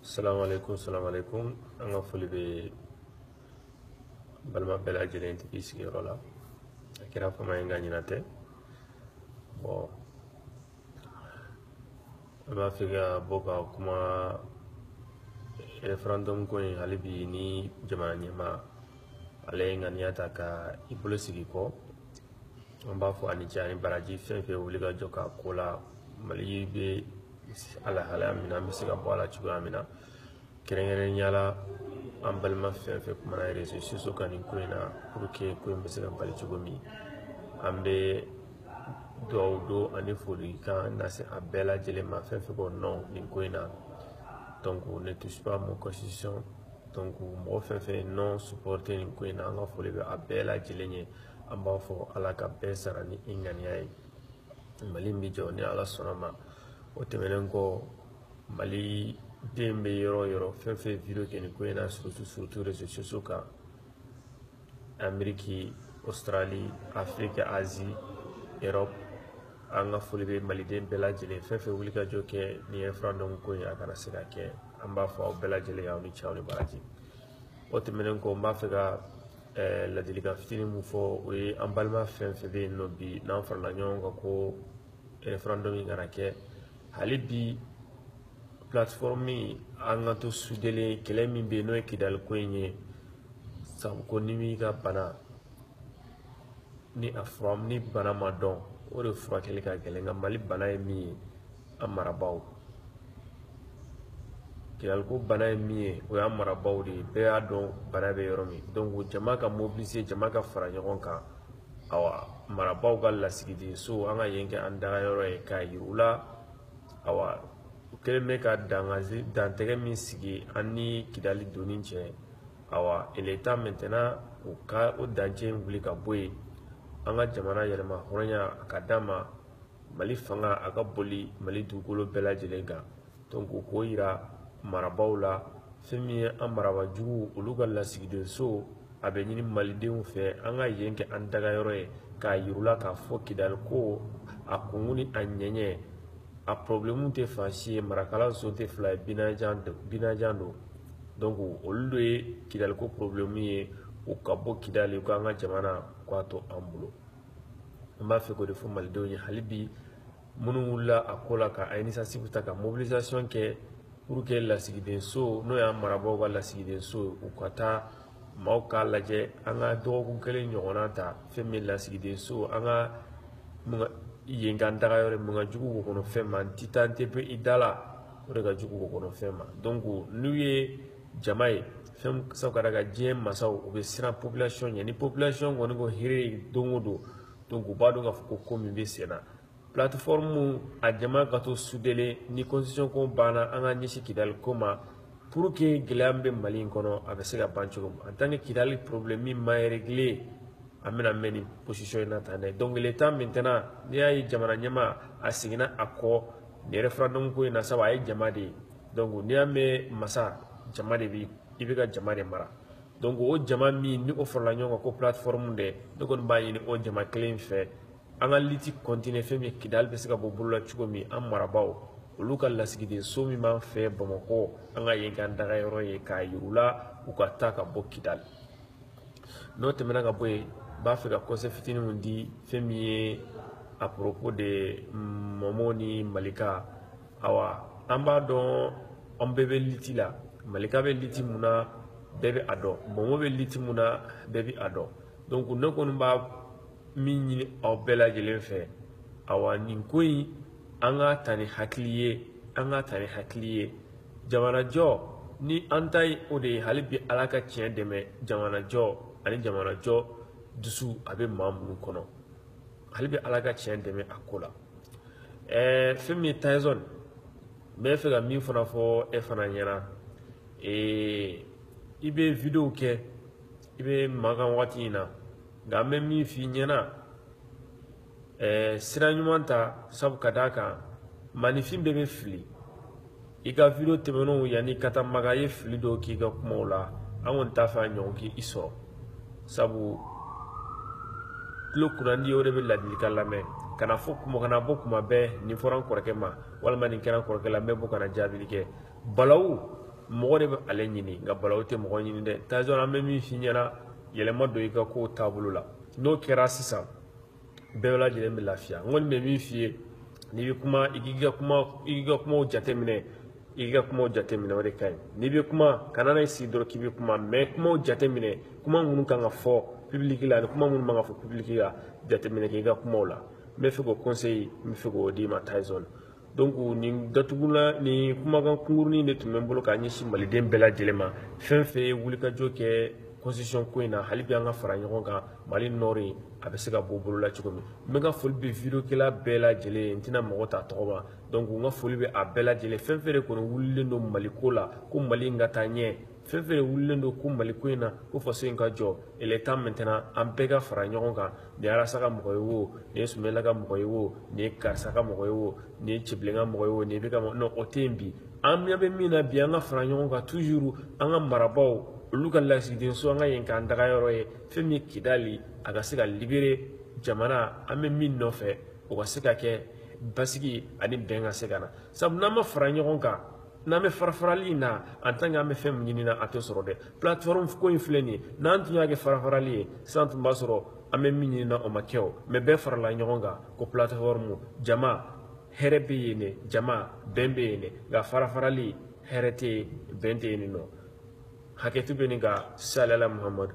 salaamaaleykum salaamaaleykum an ka foli bɛ balima bɛɛ lajɛlen tigi sigiyɔrɔ la a kɛra fama ye nka ɲina tɛ bon an b'a fɛ ka bɔ ka kuma referendum ko in hali bi ni jamana ɲɛmaa ale ye ŋaniya ta ka i bolo sigi kɔ an b'a fɔ a ni ce a ni baraji fɛn fɛn wuli ka jɔ k'a ko la mali bɛ alahalaya min na an bɛ se ka bɔ a la cogoya min na kɛrɛnkɛrɛnnenya la an balima fɛn fɛn kumana réseaux sociaux kan nin ko in na pour que ko in bɛ se ka bali cogo min an bɛ dugawu don ani folikan lase a bɛɛ lajɛlen ma fɛn fɛn ko non nin ko in na donc ne touche pas mon constitution donc mɔgɔ fɛn fɛn ye non supporter nin ko in na an ka foli bɛ a bɛɛ lajɛlen ye an b'a fɔ ala ka bɛɛ sara ni i ŋaniya ye mali in bɛ jɔ ni ala sɔnna ma o tɛmɛnen kɔ maliden bɛ yɔrɔ o yɔrɔ fɛn fɛn vidéo kɛ nin ko in na surtout surtout réseaux sociaux kan ameriki australie afrique asie europe an ka foli bɛ maliden bɛɛ lajɛlen fɛn fɛn wuli ka jɔ kɛ nin referendum ko in a kana se ka kɛ an b'a fɔ aw bɛɛ lajɛlen aw ni ce aw ni baraji o tɛmɛnen kɔ n b'a fɛ ka eh, ladilikan fitinin min fɔ o ye an balima fɛn fɛn bɛ yen nɔ bi n'an farala ɲɔgɔn kan ko referendum in kana kɛ hali bi plateforme an ka to sudelen kɛlɛ min bɛ yen n'o ye kidali ko in ye sabu ko n'i m'i ka bana ni a fura ni bana ma dɔn o de furakɛli ka gɛlɛn nka mali bana ye min ye an marabaaw kidaliko bana ye min ye o y'an marabaaw de ye bɛɛ y'a dɔn bana bɛ yɔrɔ min donc jama ka mobiliser jama ka fara ɲɔgɔn kan awa marabaaw ka lasigiden so an ka yen kɛ an dagayɔrɔ ye k'a yir'u la awa u kɛlen bɛ ka dantɛgɛ min sigi an ni kidali donni cɛ awa il est temps maintenant u ka o dancɛ in wuli ka bɔ yen an ka jamana yɛrɛmahɔrɔnya a ka d'a ma mali fanga a ka boli mali dugukolo bɛɛ lajɛlen kan donc u k'o yira marabaaw la fɛn min ye an marabaa jugu olu ka lasigiden so a bɛ ɲini malidenw fɛ an ka yen kɛ an dagayɔrɔ ye k'a yir'u la k'a fɔ kidali ko a kunkun ni a ɲɛɲɛ a problème tɛ fan si ye marakala so tɛ fila ye binajan don donc olu de ye kidaliko problème ye u ka bɔ kidali u k'an ka jamana k'a to an bolo an b'a fɛ k'o de fɔ malidenw ye hali bi minnu wulila a ko la ka initiative ta ka mobilisation kɛ pour que lasigidenso n'o y'an marabaaw ka lasigidenso u ka taa maaw k'a lajɛ an ka dɔgɔkun kelen ɲɔgɔnna ta fɛn min lasigiden so an ka yen k'an daga yɔrɔ mun ka jugu wo kɔnɔ fɛn ma n tɛ taa n tɛ bɔ i da la o de ka jugu wo kɔnɔ fɛn ma donc n'u ye jama ye fɛn sabu ka d'a kan diɲɛ masaw u bɛ siran population ɲɛ ni population kɔni ko hire don o don donc u b'a dɔn k'a fɔ ko ko min bɛ sen na plateforme a jama ka to sudelen ni constitution ko banna an ka ɲɛsin kidali ko ma pour que gɛlɛya min bɛ mali in kɔnɔ a bɛ se ka ban cogo min en tant que kidali problème min ma régler an bɛna mɛn nin position in na tan dɛ donc il est temps maintenant n'i y'a ye jamana ɲɛmaa a seginna a kɔ nin referendum ko in na sabu a ye jama de ye donc n'i y'a mɛn masa jama de bi i bɛ ka jama de mara donc o jama min ni o farala ɲɔgɔn kan ko plateforme dɛ ne kɔni b'a ɲini o jama kelen fɛ an ka liti kɔntine fɛn min kidali bɛ se ka bɔ bolo la cogo min an marabaaw olu ka lasigiden so min b'an fɛ bamakɔ an ka yen k'an daga yɔrɔ ye k'a yir'u la u ka taa ka bɔ kidali n'o tɛmɛna ka bɔ yen n b'a fɛ ka kɔnsɛyi fitinin min di fɛn min ye à propos de mɔmɔ ni malika awa an b'a dɔn an bɛɛ bɛ liti la malika bɛ liti mun na bɛɛ bɛ a dɔn mɔmɔ bɛ liti mun na bɛɛ bɛ a dɔn donc ne kɔni b'a min ɲini aw bɛɛ lajɛlen fɛ awa nin ko in an k'a ta ni hakili ye an k'a ta ni hakili ye jamanajɔ ni an ta ye o de ye hali bi ala ka tiɲɛ dɛmɛ jamanajɔ ani jamanajɔ dusu a bɛ maa minnu kɔnɔ hali bi ala ka tiɲɛ dɛmɛ a ko la ɛɛ fɛn min ye tayizɔn n b'a fɛ ka min fana fɔ e fana ɲɛna ee i bɛ wideyo kɛ i bɛ makan waati in na nka an bɛ min f'i ɲɛna ɛɛ sira ɲuman ta sabu ka d'a kan maaninfin bɛɛ bɛ fili i ka video tɛmɛnenw yanni ka taa makan i ye fili dɔw k'i ka kumaw la an kɔni t'a fɛ a ɲɔgɔn k'i sɔrɔ sabu tulo kunnandi o de bɛ ladilikan lamɛn kana fɔ kuma kana bɔ kuma bɛɛ nin fɔra n kɔrɔkɛ ma walima nin kɛra n kɔrɔkɛ la n bɛ bɔ kana jaabili kɛ balawu mɔgɔ de bɛ ale ɲini nka balawu tɛ mɔgɔ ɲini dɛ tayizɔn an bɛ min f'i ɲɛna yɛlɛma don i ka kow taabolo la n'o kɛra sisan bɛɛ lajɛlen bɛ lafiya n kɔni bɛ min f'i ye n'i bɛ kuma i k'i ka kuma i k'i ka kumaw jateminɛ i k'i ka kumaw jateminɛ o de ka ɲi n'i bɛ kuma kana n'i sigi dɔrɔn k'i bɛ kuma mais kumaw jateminɛ kuma minnu kan ka fɔ pibiliki la ani kuma minnu man ka fɔ pibiliki la jateminɛ kɛ i ka kumaw la n bɛ fɛ k'o kɔnsɛyi n bɛ fɛ k'o d'i ma tayizɔn donc nin datugula nin kumakan kunkurunin de tun bɛ n bolo k'a ɲɛsin maliden bɛɛ lajɛlen ma fɛn fɛn ye wulikajɔ kɛ constitution ko in na hali bi an ka fara ɲɔgɔn kan mali nɔri a bɛ se ka bɔ bolo la cogo min n bɛ ka foli bɛ videokɛla bɛɛ lajɛlen ye n tɛna mɔgɔ ta tɔgɔ ma donc n ka foli bɛ a bɛɛ lajɛlen fɛn fɛn de kɔni wulilen don mali ko la ko mali in ka taa ɲɛ fɛn fɛn wulilen don ko mali ko in na ko faso in ka jɔ il est temps maintenant an bɛɛ ka fara ɲɔgɔn kan nin ye arasa ka mɔgɔ ye wo nin ye sumela ka mɔgɔ ye wo nin ye karisa ka mɔgɔ ye wo nin ye cibilen ka mɔgɔ ye wo nin bɛ ka non o tɛ yen bi an ɲɛ bɛ min na bi an ka fara ɲɔgɔn kan toujours an ka marabaw olu ka lasigiden so an ka yen k'an daga yɔrɔ ye fɛn min ye kidali a ka se ka libérer jamana an bɛ min nɔfɛ o ka se ka kɛ basigi ani bɛn ka se ka na sabu n'an ma fara ɲɔgɔn kan n'an bɛ farafarali in na en tant que an bɛ fɛn min ɲini na a tɛ sɔrɔ dɛ plateforme ko in filɛ nin ye n'an tun y'a kɛ farafarali ye sisan tun b'a sɔrɔ an bɛ min ɲini na o ma kɛ o mais bɛɛ farala ɲɔgɔn kan ko plateforme jama hɛrɛ bɛ yen de jama bɛn bɛ yen de nka farafarali hɛrɛ tɛ yen bɛn tɛ yen nin nɔ hakɛto bɛ nin kan salala muhamadu